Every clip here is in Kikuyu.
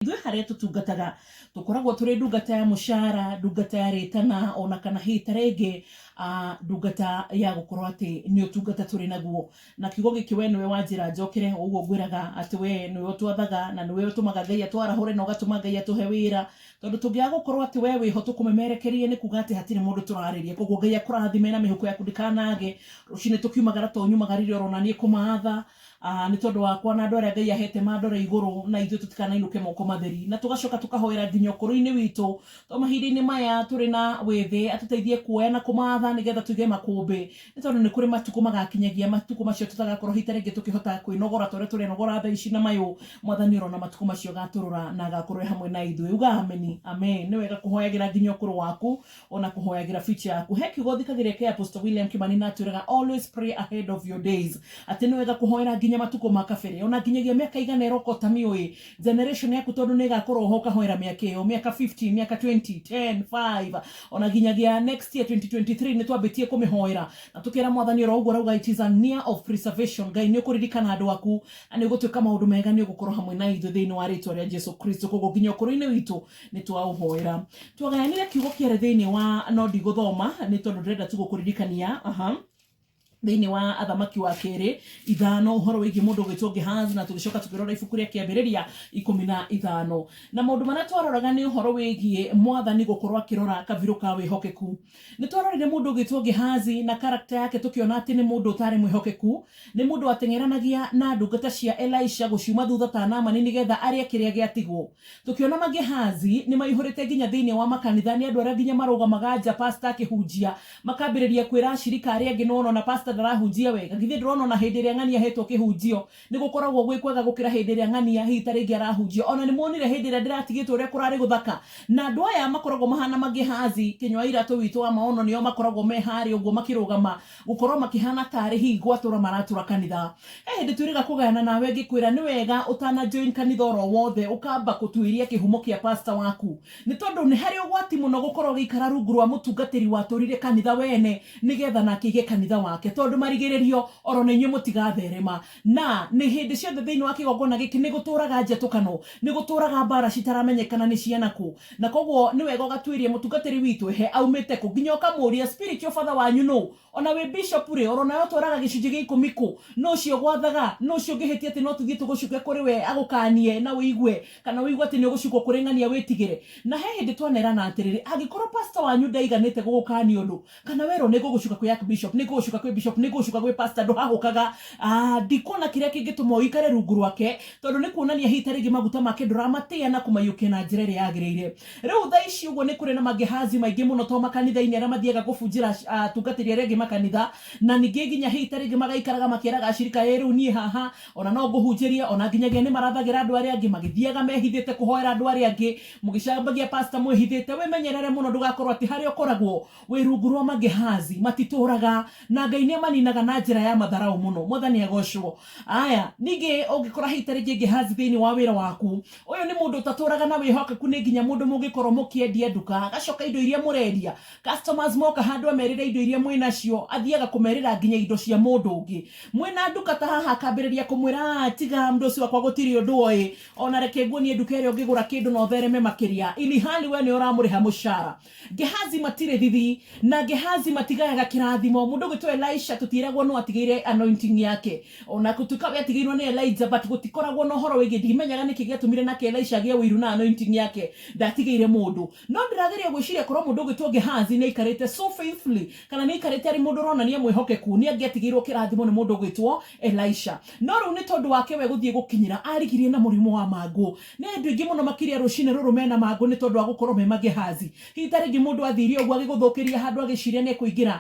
Ithuĩ harĩa tũtungataga, tũkoragwo tũrĩ ndungata ya mũcara, ndungata ya rĩtana, ona kana hihi ta rĩngĩ ndungata ya gũkorwo atĩ nĩ ũtungata tũrĩ naguo. Na kiugo gĩkĩ we nĩwe wanjĩra njokere, ũguo ngwĩraga atĩ we nĩwe ũtwathaga, na nĩwe ũtũmaga Ngai atwarahũre na ũgatũma Ngai atũhe wĩra. Tondũ tũngĩaga gũkorwo atĩ we wĩho tũkũmemerekeria nĩ kuuga atĩ hatirĩ mũndũ tũrarĩria. Kũguo Ngai akũrathime na mĩhuko yaku ndĩkanage. Rũcinĩ tũkiumagara to nyumagara irĩ oro naniĩ kũmaatha. Aa, nĩ tondũ wakwa na andũ arĩa Ngai aheete mandore igũrũ, na ithuĩ tũtikanainũke moko matheri, na tũgacoka tũkahoera nginya ũkũrũ-inĩ witũ, to mahinda-inĩ maya tũrĩ na wĩthĩ, atũteithie kuoya na kũmaatha nĩgetha tũige makũmbĩ, nĩ tondũ nĩ kũrĩ matukũ magakinyagia, matukũ macio tũtagakorwo hihi ta rĩngĩ tũkĩhota kwĩnogora ta ũrĩa tũrenogora thaa ici na mayũ, Mwathani oro na matukũ macio agaatũrora na agakorwo e hamwe na ithuĩ. Uga Ameni. Amee. Nĩ wega kũhoyagĩra nginya ũkũrũ waku, Ona kũhoyagĩra biti yaku. He kiugo thikagĩrĩria kĩa Apostle William Kimani na atwĩraga always pray ahead of your days. Atĩ nĩ wega kũhoera nginya matukũ ma kabere. Ona nginyagia mĩaka ĩgana ĩroka ũtamĩũĩ. Generation yaku tondũ nĩ ĩgakorwo ho ũkahoera mĩaka ĩyo. Mĩaka fifteen, mĩaka twenty, ten, five. Ona nginyagia next year twenty twenty three nĩ twambĩtie kũmĩhoera. Na tũkera Mwathani oro ũguo arauga it is a near of preservation. Ngai nĩ ũkũririkana andũ aku. Na nĩ ũgũtwĩka maũndũ mega nĩ ũgũkorwo hamwe na ithuĩ thĩinĩ wa rĩtwa rĩa Jesu Kristo. Kwoguo nginya ũkũrũ-inĩ witũ nä twaåhoera twagayanire kiugo kä erä thä inä wa no ndigå thoma nä tondå ndärenda tu gå kå ririkania aha thĩinĩ wa athamaki wa kerĩ ithano ũhoro wĩgiĩ mũndũ ũgwĩtwo gehazi na tũgĩcoka tũkĩrora ibuku rĩa kĩambĩrĩria ikũmi na ithano na maũndũ marĩa twaroraga nĩ ũhoro wĩgiĩ mwathani gũkorwo akĩrora kabirũ ka wĩhokeku Nĩ twarorire mũndũ ũgĩtwo Gehazi na karakta yake tũkĩona atĩ nĩ mũndũ ũtaarĩ mwĩhokeku. Nĩ mũndũ wateng'eranagia na ndungata cia Elisha gũciuma thutha ta Naamani nĩ getha arĩe kĩrĩa gĩatigwo. Tũkĩona ma Gehazi nĩ maihũrĩte nginya thĩinĩ wa makanitha, nĩ andũ arĩa nginya marũgamaga nja pastor akĩhunjia makambĩrĩria kwĩra ashirika arĩa angĩ nĩ wona o na pastor ndarahunjia wega, githĩ ndũrona o na hĩndĩ ĩrĩa ng'ania ahetwo kĩhunjio Nĩ gũkoragwo gwĩ kwega gũkĩra hĩndĩ ĩrĩa ng'ania hihi ta rĩngĩ arahunjia. O na nĩ muonire hĩndĩ ĩrĩa ndĩratigĩtwo ũrĩa kũrarĩ gũthaka, na andũ aya makoragwo mahana maGehazi, kĩnyua-iratũ witũ wa maono, nĩo makoragwo me harĩa ũguo makĩrũgama, gũkorwo makĩhana tarĩ hihi gwatũra maratũra kanitha. He hĩndĩ twĩrĩga kũgayana nawe ngĩkwĩra nĩ wega ũtana join kanitha oro wothe ũkamba kũtuĩria kĩhumo kĩa pastor waku. Nĩ tondũ nĩ harĩ ũgwati mũno gũkorwo ũgĩikara rungu rwa mũtungatĩri watũrire kanitha we ene nĩ getha nake aige kanitha wake, tondũ marigĩrĩrio o ro na inyuĩ mũtigatherema. Na, nĩ hĩndĩ ciothe thĩinĩ wa kĩgongona gĩkĩ nĩ gũtũũraga njetũkano, nĩ gũtũũraga mbaara citaramenyekana nĩ ciana kũ. Na kwoguo nĩ wega ũgatuĩrie mũtungatĩri witũ ehe aumĩte kũ, nginya ũkamũũria, spiritual father wanyu nũ? O na wĩ bishop rĩ, oro nawe ũtwaraga gĩcunjĩ gĩa ikũmi kũ? Nũ ũcio ũgwathaga? Nũ ũcio ũngĩhĩtia atĩ no tũthiĩ tũgũcuke kũrĩ we agũkaanie na ũigue, kana ũigue atĩ nĩ ũgũcukwo kũrĩ ng'ania wĩtigĩre? Na he hĩndĩ twanerana atĩrĩrĩ, Angĩkorwo pastor wanyu ndaiganĩte gũgũkaania ũndũ, kana werwo nĩ ngũgũcuka kwĩ Archbishop, nĩ ngũgũcuka kwĩ bishop, nĩ ngũgũcuka gwĩ pastor, ndũhahũkaga. Aah, ndikuona kĩrĩa kĩngĩtũma ũikare rungu rwake, tondũ nĩ kuonania hihi ta rĩngĩ maguta make ndũramatĩa na kũmaiyũkia na njĩra ĩrĩa yagĩrĩire. Rĩu thaa ici ũguo nĩ kũrĩ na maGehazi maingĩ mũno to makanitha-inĩ arĩa mathiaga kũbunjĩra atungatĩri arĩa angĩ makanitha, na ningĩ nginya hihi ta rĩngĩ magaikaraga makeraga acirika, ĩĩ rĩu niĩ haha, o na no ngũhunjĩrie, o na nginyagia nĩ marathagĩra andũ arĩa angĩ, magĩthiaga mehithĩte kũhoera andũ arĩa angĩ, mũgĩcambagia pastor mwĩhithĩte. Wĩmenyerere mũno ndũgakorũo atĩ harĩa ũkoragwo wĩ rungu rwa maGehazi. Matitũũraga, na Ngai nĩ amaninaga na njĩra ya matharaũ mũno. Mwathani agoocwo. Aya, ningĩ ũngĩkora hihi ta rĩngĩ Gehazi thĩinĩ wa wĩra waku, Ũyũ nĩ mũndũ ũtatũraga na wĩhokeku nĩ nginya mũndũ mũngĩkorwo mũkĩendia nduka agacoka indo iria mũrendia customers moka handũ amerĩre indo iria mwĩnacio athiaga kũmerĩra nginya indo cia mũndũ ũngĩ mwĩna nduka ta haha akambĩrĩria kũmwĩra aah tiga mũndũ ũcio wakwa gũtirĩ ũndũ oĩ ona reke nguonie nduka ĩrĩa ũngĩgũra kĩndũ na ũthereme makĩria ilihali we nĩwe ũramũrĩha mũcara Gehazi matirĩ thithi na Gehazi matigayaga kĩrathimo mũndũ ũgwĩtwo Elisha tũtiĩragwo nũ atigĩire anointing yake ona gũtuĩka we atigĩirwo nĩ Elijah but gũtikoragwo na ũhoro wĩgiĩ ndimenyaga nĩkĩ gĩatũmire nake Elisha agĩe ũiru na anointing yake ndatigĩire mũndũ no ndĩrageria gwĩciria korwo mũndũ ũgwĩtwo Gehazi nĩaikarĩte so faithfully kana nĩaikarĩte arĩ mũndũ ũronania mwĩhokeku nĩangĩatigĩirwo kĩrathimo nĩ mũndũ ũgwĩtwo Elisha no rĩu nĩ tondũ wake we gũthiĩ gũkinyĩra arigirie na mũrimũ wa mangũ Nĩ andũ aingĩ mũno makĩrĩa rũcinĩ rũrũ mena mangũ nĩ tondũ wa gũkorwo me magehazi. Hihi ta rĩngĩ mũndũ athiire ũguo agĩgũthũkĩria handũ agĩciria nĩ ekũingĩra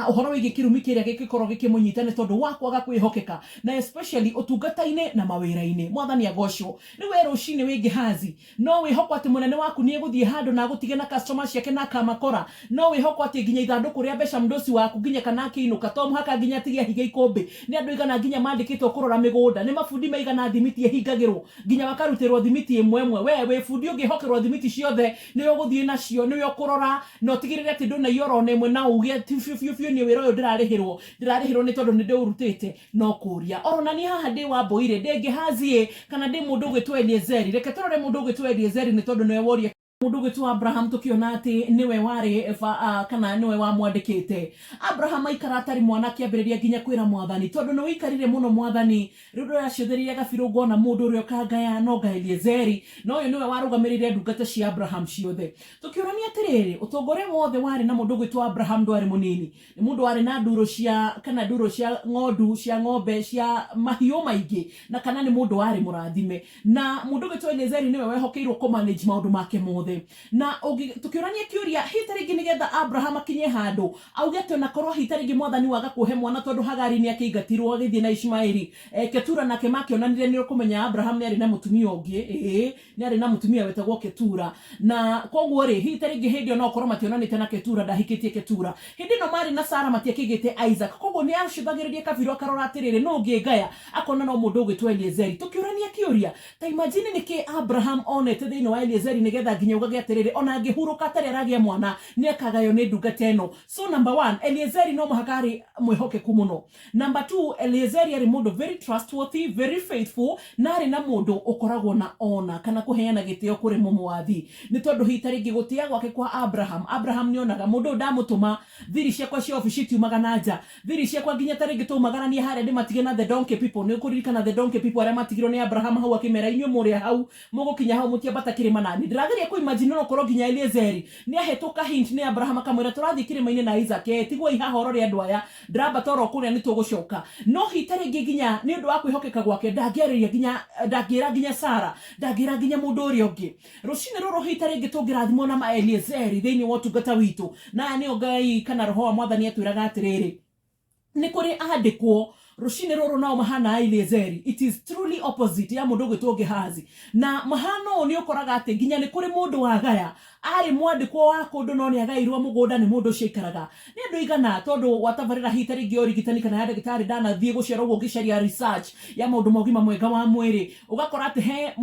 ũhoro wĩgiĩ kĩrumi kĩrĩa gĩngĩkorwo gĩkĩmũnyita nĩ tondũ wa kwaga kwĩhokeka na especially ũtungata-inĩ na mawĩra-inĩ. Mwathani agoocwo. Rĩu wee rũcinĩ wĩ Gehazi, no wĩhoko atĩ mũnene waku nĩ egũthiĩ handũ na agũtige na customer ciake na akamakora? No wĩhoko atĩ nginya ithandũkũ rĩa mbeca mdosi waku nginya kana akĩinũka to mũhaka nginya atige ahiga ikũmbĩ? Nĩ andũ aigana nginya mandĩkĩtwo kũrora mĩgũnda? Nĩ mabundi maigana thimiti ĩhingagĩrwo? Nginya bakarutĩrwo thimiti ĩmwe ĩmwe. Wee wĩ bundi ũngĩhokerwo thimiti ciothe, nĩwe ũgũthiĩ nacio, nĩwe ũkũrora, na ũtigĩrĩre atĩ ndũnaiya o na ona ĩmwe na uuge, ti biũ biũ biũ niĩ wĩra ũyũ ndĩrarĩhĩrwo, ndĩrarĩhĩrwo nĩ tondũ nĩ ndĩũrutĩte. No kũũria. O ro na niĩ haha ndĩ Wambũi-rĩ, ndĩ Gehazi-ĩ, kana ndĩ mũndũ ũgwĩtwo Eliezeri? Reke tũrore mũndũ ũgwĩtwo Eliezeri nĩ tondũ nĩwe woria. Mũndũ ũgwĩtwo Abraham tũkĩona atĩ nĩwe warĩ kana nĩwe wamwandĩkĩte. Abraham aikara atarĩ mwana akĩambĩrĩria nginya kwĩra mwathani, tondũ nĩwĩikarire mũno mwathani, rĩu ndũracũthĩrĩria gabirũ ngona mũndũ ũrĩa ũkangaya, no anga Eliezeri, na ũyũ nĩwe warũgamĩrĩire ndungata cia Abraham ciothe. Tũkĩũrania atĩrĩrĩ, ũtonga ũrĩa wothe warĩ na mũndũ ũgwĩtwo Abraham ndwarĩ mũnini, Nĩ mũndũ warĩ na ndũũrũ cia, kana ndũũrũ cia ng'ondu, cia ng'ombe, cia mahiũ maingĩ, na kana nĩ mũndũ warĩ mũrathime. Na mũndũ ũgĩtwo Eliezeri nĩwe wehokeirwo kũ manage maũndũ make mothe. Na ũngĩ, tũkĩũrania kĩũria, hihi tarĩngĩ nĩgetha Abraham akinye handũ, auge atĩ onakorwo hihi tarĩngĩ Mwathani waga kũhe mwana tondũ Hagari nĩakĩingatirwo agĩthiĩ na Ishmaeli, Ketura nake makĩonanire nĩũkũmenya Abraham nĩarĩ na mũtumia ũngĩ, ĩĩ, Nĩ aarĩ na mũtumia wetagwo Ketura, na kwoguo-rĩ, hihi ta rĩngĩ hĩndĩ ĩyo no ũkorũo mationanĩte na Ketura, ndahikĩtie Ketura. Hĩndĩ ĩno maarĩ na Sara matiakĩgĩĩte Isaac. Kwoguo nĩ aacũthagĩrĩria kabirũ akarora atĩrĩrĩ, nũ ũngĩngaya? Akona no mũndũ ũgwĩtwo Eliezeri. Tũkĩũrania kĩũria, ta imagine nĩ kĩĩ Abraham onete thĩinĩ wa Eliezeri nĩgetha nginya augage atĩrĩrĩ, o na angĩhurũka atarĩ aragĩa mwana, nĩ akagaywo nĩ ndungata ĩno. So, number one, Eliezeri no mũhaka aarĩ mwĩhokeku mũno. Number two, Eliezeri arĩ mũndũ very trustworthy, very faithful, na arĩ na mũndũ ũkoragwo na honor kana kũheana gĩtĩo kũrĩ mũmwathi. Nĩ tondũ hihi ta rĩngĩ gũtĩa gwake kwa Abraham, Abraham nĩ onaga mũndũ ũyũ ndamũtũma, thiri ciakwa cia obici itiumaga na nja, thiri ciakwa nginya ta rĩngĩ twaumagarania harĩa ndĩmatige na the donkey people. Nĩ ũkũririkana the donkey people arĩa matigirwo nĩ Abraham hau akĩmera inyuĩ mũrĩa hau, mũgũkinya hau mũtiambata kĩrĩma na niĩ. Ndĩrageria kũ imagine ona ũkorwo nginya Eliezeri nĩ ahetwo ka hint nĩ Abraham akamwĩra tũrathiĩ kĩrĩma-inĩ na Isaac, ee tiguai haha orore andũ aya, Ndĩrambata o ro kũrĩa nĩ tũgũcoka. No hi ta rĩngĩ nginya nĩ ũndũ wa kwĩhokeka gwake ndangĩarĩria nginya, ndangĩra nginya Sara, ndangĩra nginya mũndũ ũrĩa ũngĩ. Rũcinĩ rũrũ hi ta rĩngĩ tũngĩrathimwo na Maeliezeri thĩinĩ wa ũtungata witũ. Na aya nĩo Ngai kana Roho wa Mwathani atwĩraga atĩrĩrĩ, Nĩ kũrĩ andĩkwo rũcinĩ rũrũ nao mahana Aeliezeri, it is truly opposite ya mũndũ ũgwĩtwo Gehazi. Na mahana ũũ nĩ ũkoraga atĩ nginya nĩ kũrĩ mũndũ wagaya Aarĩ mwandĩkwo wa kũndũ no nĩ agaĩirũo mũgũnda nĩ mũndũ ũcio aikaraga. Nĩ andũ aigana, tondũ wa tabarĩra hihi ta rĩngĩ ya ũrigitani kana ya ndagĩtarĩ ndanathiĩ gũciarũo ũguo ũngĩcaria research ya maũndũ ma ũgima mwega wa mwĩrĩ, ũgakora atĩ he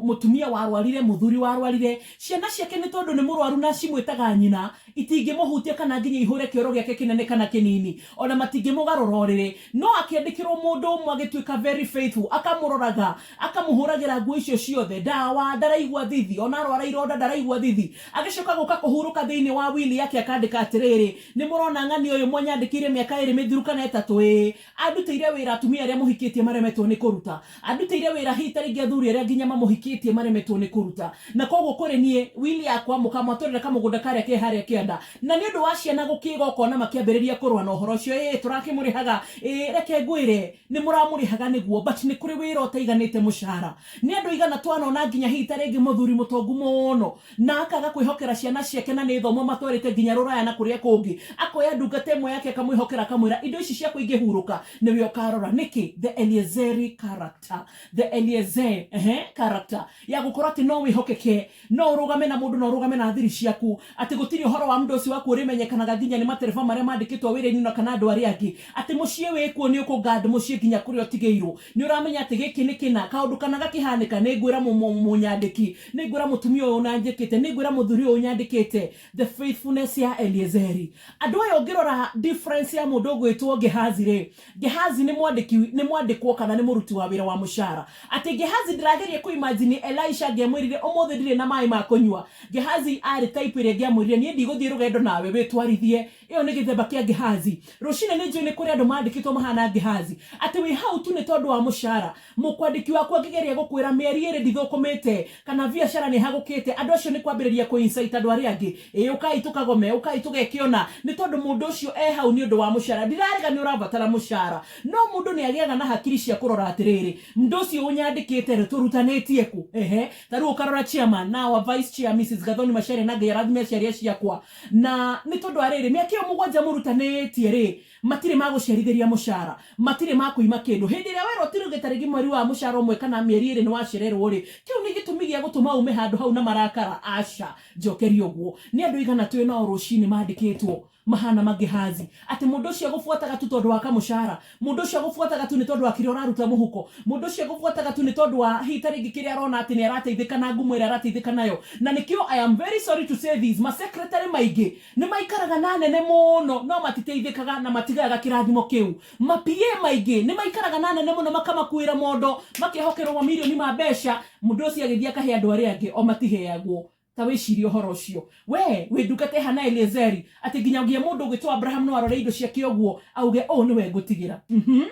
mũtumia warwarire, mũthuri warwarire, ciana ciake nĩ tondũ nĩ mũrwaru na cimwĩtaga nyina, itingĩmũhutia kana nginya ihũre kĩoro gĩake kĩnene kana kĩnini. O na matingĩmũgarũra ũrĩrĩ. No akĩandĩkĩrũo mũndũ ũmwe agĩtuĩka very faithful, akamũroraga, Akamũhũragĩra nguo icio ciothe ndawa, ndaraigua thithi, ona arwara ironda ndaraigua thithi. Agĩcoka gũka kũhurũka thĩinĩ wa wili yake akandĩka atĩrĩrĩ, Nĩ mũrona ng'ania ũyũ mwanyandĩkĩire mĩaka ĩĩrĩ mĩthiru kana ĩtatũ ĩĩ? Andutĩire wĩra atumia arĩa mũhikĩtie maremetwo nĩ kũruta. Andutĩire wĩra hihi ta rĩngĩ athuri arĩa nginya mamũhikĩtie maremetwo nĩ kũruta. Na kwoguo kũrĩ niĩ, wili yakwa, mũkamwatũrĩra kamũgũnda karĩa ke harĩa kĩanda, Na nĩ ũndũ wa ciana gũkĩĩga ũkona makĩambĩrĩria kũrũa na ũhoro ũcio, ĩĩ tũrakĩmũrĩhaga, ĩĩ reke ngwĩre, nĩ mũramũrĩhaga nĩguo, but nĩ kũrĩ wĩra ũtaiganĩte mũcara. Nĩ andũ aigana twanona nginya hihi ta rĩngĩ mũthuri mũtongu mũno, na akaga kwĩhokera ciana ciake na nĩ thomu amatwarĩte nginya rũraya na kũrĩa kũngĩ, akoya ndungata ĩmwe yake akamwĩhokera akamwĩra indo ici ciakwa ingĩhurũka nĩwe ũkarora. Nĩkĩ? The Eliezeri character. The Eliezer, ehe, character ya gũkorwo atĩ no wĩhokeke, No ũrũgame na mũndũ na ũrũgame na thiri ciaku atĩ gũtirĩ ũhoro wa mndũ ũcio waku ũrĩmenyekanaga nginya nĩ matereba marĩa mandĩkĩtwo wĩra-inĩ ũna kana andũ arĩa angĩ. Atĩ mũciĩ wĩ kuo nĩ ũkũ guard mũciĩ nginya kũrĩa ũtigĩirwo. Nĩ ũramenya atĩ gĩkĩ nĩ kĩna. Kaũndũ kana gakĩhanĩka nĩ ngwĩra mũnyandĩki. Nĩ ngwĩra mũtumia ũyũ ũnanjĩkĩte. Nĩ ngwĩra mũthuri ũyũ ũnyandĩkĩte. The faithfulness ya Eliezeri. Andũ aya ũngĩrora difference ya mũndũ ũgwĩtwo Gehazi rĩ, Gehazi nĩ mwandĩki, nĩ mwandĩkwo kana nĩ mũruti wa wĩra wa mũcara. Atĩ Gehazi ndĩrageria kũ imagine Elisha angĩamwĩrire ũmũthĩ ndirĩ na maĩ ma kũnyua. Gehazi aarĩ type ĩrĩa ĩngĩamwĩrire niĩ ndigũthiĩ rũgendo nawe, wĩtwarithie. Ĩyo nĩ gĩthemba kĩa Gehazi. Rũcinĩ nĩ njũĩ nĩ kũrĩ andũ mandĩkĩtwo mahana Gehazi. Atĩ wĩ hau tu nĩ tondũ wa mũcara. Mũkwandĩki waku angĩgeria gũkwĩra mĩeri ĩrĩ ndithũkũmĩte, kana biacara nĩ ĩhagũkĩte, andũ acio nĩ kwambĩrĩria kũ incite andũ arĩa angĩ, ĩĩ ũkai tũkagome, ũkai tũgekĩona, nĩ tondũ mũndũ ũcio e hau nĩ ũndũ wa mũcara. Ndirarega nĩ ũrabatara mũcara, no mũndũ nĩ agĩaga na hakiri cia kũrora atĩrĩrĩ, Mdũ ũcio ũnyandĩkĩte rĩ, tũrutanĩtie kũ? Ehe. Ta rĩu ũkarora Chairman, na our Vice Chair Mrs. Gathoni Macharia, na Ngai arathime aciari a ciakwa, na nĩ tondũ wa rĩrĩ, mĩaka ĩyo mũgwanja mũrutanĩtie rĩ, Matirĩ ma gũcerithĩria mũcara. Matirĩ ma kũima kĩndũ. Hĩndĩ ĩrĩa werwo ti rĩu gĩ ta rĩngĩ mweri wa mũcara ũmwe kana mĩeri ĩrĩ nĩ wacererwo-rĩ, kĩu nĩ gĩtũmi gĩa gũtũma ume handũ hau na marakara? Aca. Njokeria ũguo. Nĩ andũ aigana tũĩ nao rũcinĩ mandĩkĩtwo, mahaana ma Gehazi, atĩ mũndũ ũcio agũbuataga tu tondũ wa kamũcara? Mũndũ ũcio agũbuataga tu nĩ tondũ wa kĩrĩa ũraruta mũhuko? Mũndũ ũcio agũbuataga tu nĩ tondũ wa hihi ta rĩngĩ kĩrĩa arona atĩ nĩ arateithĩka na ngumo ĩrĩa arateithĩka nayo? Na nĩkĩo, I am very sorry to say this, ma secretary maingĩ Nĩ maikaraga na anene mũno no matiteithĩkaga na matigayaga kĩrathimo kĩu. Ma PA maingĩ nĩ maikaraga na anene mũno makamakuĩra mondo makehokerwo mamirioni ma mbeca mũndũ ũcio agĩthiĩ akahe andũ arĩa angĩ o matiheagwo. Ta wĩcirie ũhoro ũcio. Wee wĩ ndungata ĩhana Eliezeri atĩ nginyagia mũndũ ũgwĩtwo Abraham no arore indo ciake ũguo auge ũũ nĩwe ngũtigĩra. Uhmm.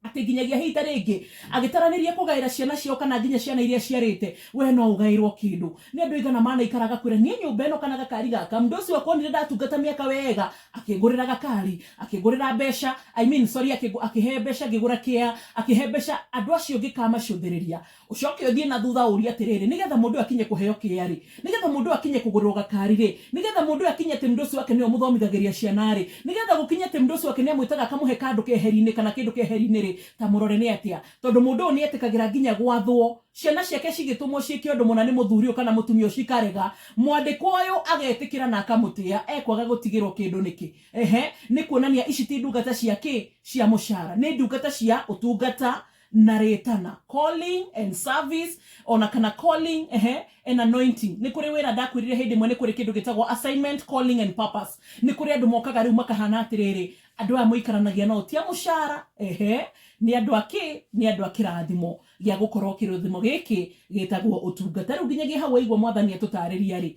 atĩ nginyagia ihinda rĩngĩ agĩtaranĩria kũgaĩra ciana ciao kana nginya ciana iria ciarĩte we no ũgaĩrwo kĩndũ nĩ andũ aigana manaikara agakwĩra niĩ nyũmba ĩno kana gakari gaka mũndũ ũcio akonire ndatungata mĩaka wega akĩngũrĩra gakari akĩngũrĩra mbeca I mean sorry akĩhe mbeca ngĩgũra kĩa akĩhe mbeca andũ acio ngĩkamacũthĩrĩria Ũcoke ũthiĩ na thutha ũũrie atĩrĩrĩ, 'Nĩ getha mũndũ ũyũ akinye kũheo kĩrĩa-rĩ, nĩ getha mũndũ ũyũ akinye kũgũrĩrwo gakari-rĩ, nĩ getha mũndũ ũyũ akinye atĩ mdosi wake nĩwe ũmũthomithagĩria ciana-rĩ, nĩ getha gũkinye atĩ mdosi wake nĩ amwĩtaga akamũhe kandũ keheri-inĩ kana kĩndũ keheri-inĩ-rĩ, ta mũrore nĩ atĩa. Tondũ mũndũ ũyũ nĩ etĩkagĩra nginya gwathwo. Ciana ciake cigĩtũmwo ciĩke ũndũ mũna nĩ mũthuri ũyũ kana mũtumia ũyũ cikarega, mwandĩkwo ũyũ agetĩkĩra na akamũtĩa, ekwaga gũtigĩrwo kĩndũ nĩkĩ? Ehe, nĩ kuonania ici ti ndungata cia kĩ? Cia mũcara. Nĩ ndungata cia ũtungata na rĩtana calling and service ona kana calling ehe and anointing nĩ kũrĩ wĩra ndakwĩrire hĩndĩ ĩmwe nĩ kũrĩ kĩndũ gĩtagwo assignment calling and purpose nĩ kũrĩ andũ mokaga rĩu makahana atĩrĩrĩ andũ aya mũikaranagia nao ti a mũcara ehe nĩ andũ akĩ nĩ andũ a kĩrathimo gĩa gũkorwo kĩrathimo gĩkĩ gĩtagwo ũtungata rĩu nginyagia hau waigua mwathani atũtarĩria rĩ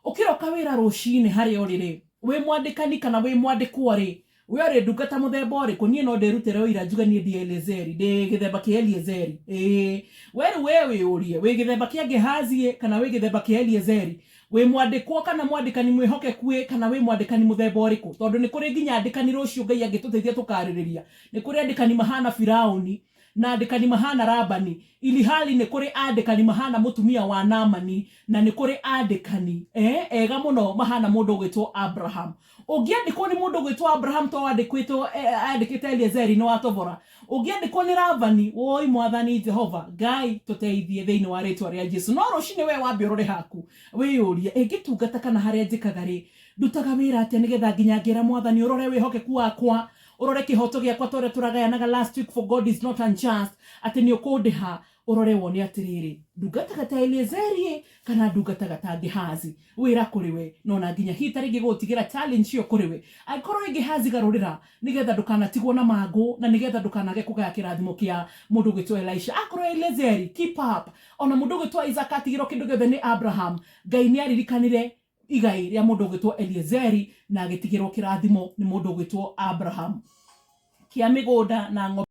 ũkĩroka wĩra rũcinĩ harĩa ũrĩ rĩ wĩ mwandĩkani kana wĩ mwandĩkwo rĩ We ũrĩ ndungata mũthemba ũrĩkũ? Niĩ no ndĩrutĩre ũira njuge niĩ ndi Eliezeri, ndĩ gĩthemba kĩa Eliezeri. Ĩĩ. We rĩu we wĩyũrie, wĩ gĩthemba kĩa Gehazi-ĩ, kana wĩ gĩthemba kĩa Eliezeri? Wĩ mwandĩkwo kana mwandĩkani mwĩhokeku-ĩ, kana wĩ mwandĩkani mũthemba ũrĩkũ? Tondũ nĩ kũrĩ nginya andĩkani rũciũ Ngai angĩtũteithia tũkaarĩrĩria. Nĩ kũrĩ andĩkani mahaana Firaũni. na andĩkani mahaana Labani, ilihali nĩ kũrĩ andĩkani mahaana mũtumia wa Naamani, na nĩ kũrĩ andĩkani, ee, ega mũno mahaana mũndũ ũgwĩtwo Abraham. Ũngĩandĩkwo nĩ mũndũ ũgwĩtwo Abraham to wandĩkwĩtwo, e, andĩkĩte Eliezeri nĩ wa tobora. Ũngĩandĩkwo nĩ Labani, woi Mwathani Jehova, Ngai, tũteithie thĩinĩ wa rĩĩtwa rĩa Jesu. No rũcinĩ wee wambe ũrore haku, wĩyũrie, ĩ, ngĩtungata kana harĩa njĩkaga-rĩ, ndutaga wĩra atĩa nĩ getha nginya ngĩra Mwathani ũrore wĩhokeku wakwa Ũrore kĩhooto gĩakwa ta ũrĩa tũragayanaga last week for God is not unjust atĩ nĩ ũkũndĩha, ũrore wone atĩrĩrĩ, ndungata gata Eliezeri-ĩ, kana ndungata gata Gehazi, wĩra kũrĩ we, na o na nginya hihi ta rĩngĩ gũgũtigĩra challenge ĩyo kũrĩ we, angĩkorwo wĩ Gehazi garũrĩra, nĩ getha ndũkanatigwo na mangũ, na nĩ getha ndũkanage kũgaya kĩrathimo kĩa mũndũ ũgwĩtwo Elisha. Akorwo wĩ Eliezeri, keep up. O na mũndũ ũgwĩtwo Isaac atigĩrwo kĩndũ gĩothe nĩ Abraham, Ngai nĩ aririkanire igai rĩa mũndũ ũgwĩtwo eliezeri na agĩtigĩrwo kĩrathimo nĩ mũndũ ũgwĩtwo abrahamu kĩa mĩgũnda na ng'ombe